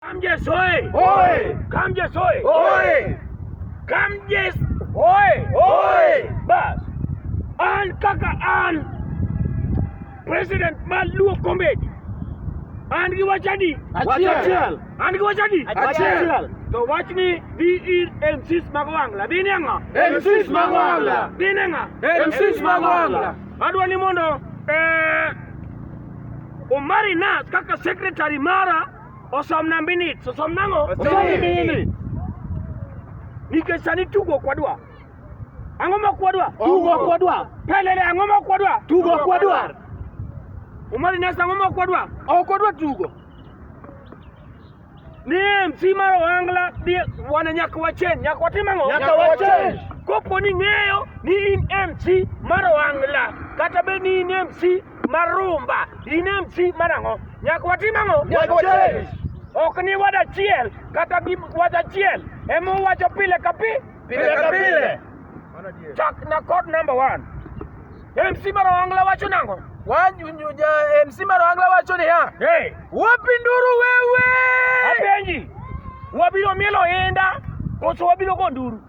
Kamjes oye! Oye! Kamjes oye! Oye! Kamjes oye! Oye! Bas. An kaka an president mar Luo Comedy. An gi wach adi? Achiel. An gi wach adi? Achiel. To wach ni dhi ir MCs mag Wangla. Dhi ne ng'a? MCs mag Wangla. Dhi ne ng'a? MCs mag Wangla. Adwa ni mondo eh, Omari Nas kaka secretary mara Osomna minutes, osom nang'o? Osom minutes. Nikech sani tugo ok wadwa. Ang'o ma ok wadwa? Tugo ok wadwa. Pelele ang'o ma ok wadwa? Tugo ok wadwa. Omari Nesta ang'o ma ok wadwa? Ok wadwa tugo. Ni MC mar Ohangla ni wana nyaka wachange, nyaka watim ang'o? Nyaka wachange. Kopo ni ng'eyo ni in MC mar Ohangla kata be ni in MC marumba ine mchi marang'o nyaka watim ang'o Nyaka wachange. ok ni wad achiel kata gi wach achiel ema uwacho pile ka pi Pile ka pile. chak na kod number one mc marang'la wacho nango Wanyu ja MC Marangla wacho niya, hey, wapinduru wewe. apenji wabiro mielo inda koso wabiro go nduru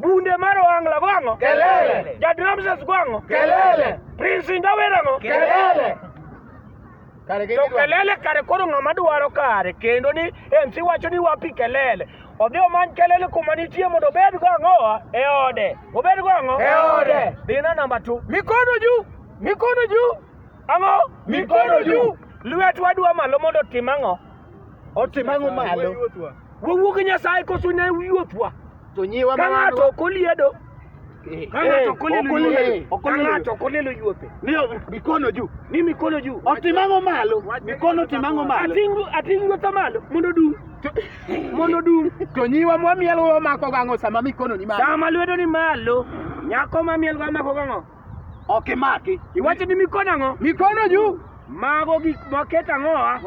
Bunde mar Ohangla go ang'o? Kelele. Jad Ramses go ang'o? Kelele. Prince Indawer ang'o? Kelele. Kare To kelele kare koro ng'ama dwaro kare kendo ni MC wacho ni wapi kelele. Odhi omany kelele kuma nitie mondo obed go ang'o? E ode. Obed go ang'o? E ode. Dhina namba 2. Mikono juu. Mikono juu. Ang'o? Mikono juu. Lwet wadwa malo mondo otim ang'o? Otim ang'o malo? Wawuo gi Nyasaye koso ne wuothwa. To nyiwa ma ng'ato ok oliedo. Eh, ka ng'ato eh, ok oliedo yuothe. Ka ng'ato ok oliedo yuothe. Ni mikono juu. Ni mikono juu. Otimang'o malo. Mikono timang'o malo. Atingu atingu yuotha malo mondo dum. Mondo dum. To nyiwa mwamiel wamako gang'o sama mikono ni malo. Sama lwedo ni malo. Nyako mamiel wamako gang'o. Ok imaki. Iwacho ni mikono ang'o? Mikono juu. Mago gik maket ang'owa?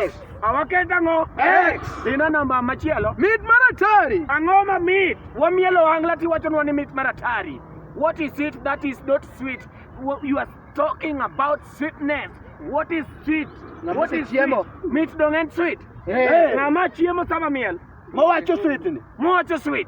X. Awaket ang'o? X. Dina namba machielo. Mit mar atari. Ang'o ma mit? Wamielo wang'la tiwachonwa ni mit mar atari. What is it that is not sweet? You are talking about sweetness. What is sweet? What is chiemo? Meat don't end sweet. Hey. Ng'ama chiemo sama miel. Mowacho sweet ni. Mowacho sweet.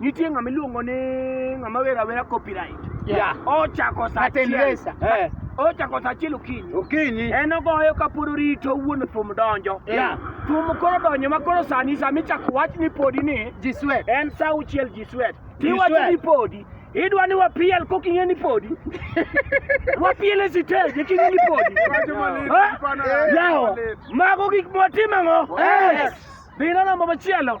Nitie ng'ama iluongo ni ng'ama wera wera copyright. Yeah. Ochako sa Martin achiel. Lesa. Eh. Ochako sa achiel okinyi. Okinyi. En ogoyo kapod orito wuon thum donjo. Yeah. Thum koro donjo ma koro sani sama ichako wach ni podi ni Ji swet. en sa auchiel ji swet. Ji Tiwacho swet. ni podi. Idwa ni wapiel koking'e ni podi. Wapiel e siteji king'e ni podi. Wacho malit, Eh? ipano yawa. Yawa. Mago gik mwatimo ang'o? Yes. Dhi neno namba machielo.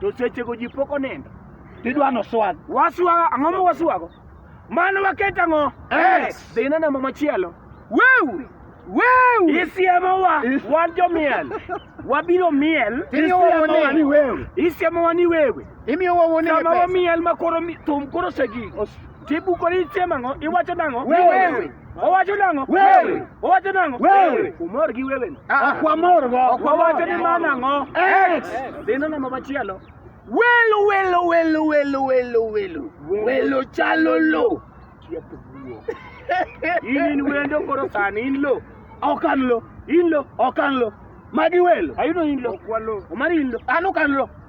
To sechego ji pok onindo. Tidwa noswag. Waswago ang'o ma waswago? Mano waket ang'o? X. Dhi ine namba machielo. Weu! Weu! Isiemowa wan jomiel. Wabiro miel. Isiemowa ni wewe. Isiemowa ni wewe. Imiyo wawone Sama wamiel ma koro mi- thum koro osegik. Tibuko ni chiemo ang'o? Iwacho nang'o? Wewe. Owacho nang'o? Wewe. Owacho nang'o? Wewe. Umor gi wewe no. Ah, kwa mor go. Ok wawacho ni ma nang'o? Ex. Dhino namba machielo. Welo welo welo welo welo welo. Welo chalo lo. In in wendo koro sani in lo. Ok an lo. In lo. Ok an lo. Magi welo. Ayudo in lo. Omari in lo. An ok an lo.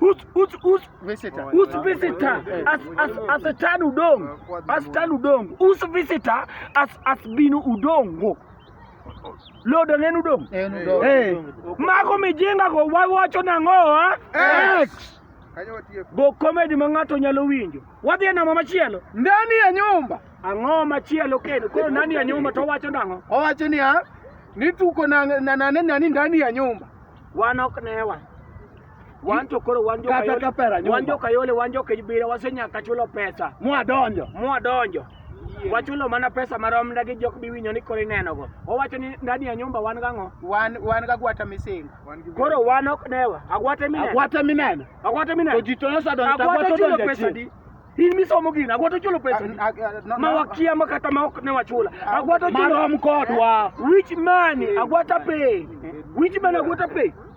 Us, us, us, visitor. Us visitor as as as a tan udong. As tan udong. Us visitor as as binu udongo. Lodo nenu udong. Nenu udong. Eh. Mako mijinga go wawacho nango ha? Ex. Go comedy ma ng'ato nyalo winjo. Wadhi e namba machielo. Ndani ya nyumba. Ang'o machielo kendo? Koro ndani ya nyumba to wacho nango? Owacho ni ha? Nituko na na nani ndani ya nyumba. Wanok newa. Wan to koro wan joka Kata ka pera Yole, nyumba. wan joka Yole, wan joka Ibira, wasenyaka chulo pesa. Mwadonjo. Mwadonjo. Wachulo mana pesa marom ndagi jok biwinyo ni koro inenogo. Owacho ni ndani ya nyumba wan gang'o? Wan wan ga gwata misinga. Koro wan ok dewa. Agwate mineno. Agwate mineno. Agwate mineno. To ji to nosadonjo to agwate chulo odonjo pesa di. In misomo gini, agwate chulo pesa di. Ma wakia ma kata ma ok ne wachula. Agwate chulo. Marom kodwa. Which money? Agwata pay. Which money agwata pay?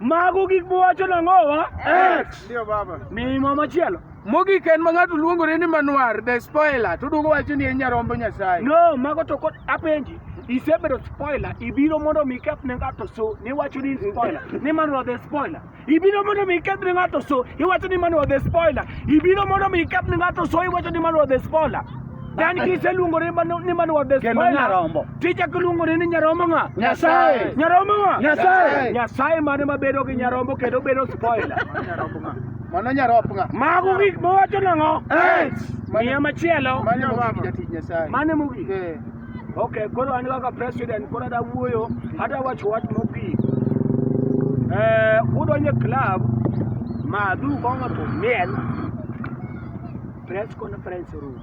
Mago gik muwacho nang'owa? X. Ndio baba. Mimo machielo. Mogik en ma ng'ato luongore ni Manuar the spoiler to duogo wacho ni en nyarombo Nyasaye. No, mago to kod apenji. Isebedo spoiler, ibiro mondo mi keth ne ng'ato so, niwacho ni spoiler, ni Manuar the spoiler. Ibiro mondo mi keth ne ng'ato so, iwacho ni Manuar the spoiler. Ibiro mondo mi keth ne ng'ato so, iwacho ni Manuar the spoiler. Dan kise luongore ni manwa the Kendo nyarombo. Tija kiluongore ni nyarombo ng'a? Nyasaye. Nyarombo ng'a? Nyasaye. Nyasaye mane mabedo gi nyarombo kendo bedo spoiler. Nyarombo ng'a? Mano nyarop ng'a? Mago gik mowacho nang'o? Miya machielo. Mane mogik jatich Nyasaye. Mane mogik. Eh. Okay, koro an kaka president koro ada wuoyo, ada wacho wach mogik. Eh, udonje club ma du kongo to miel press conference room.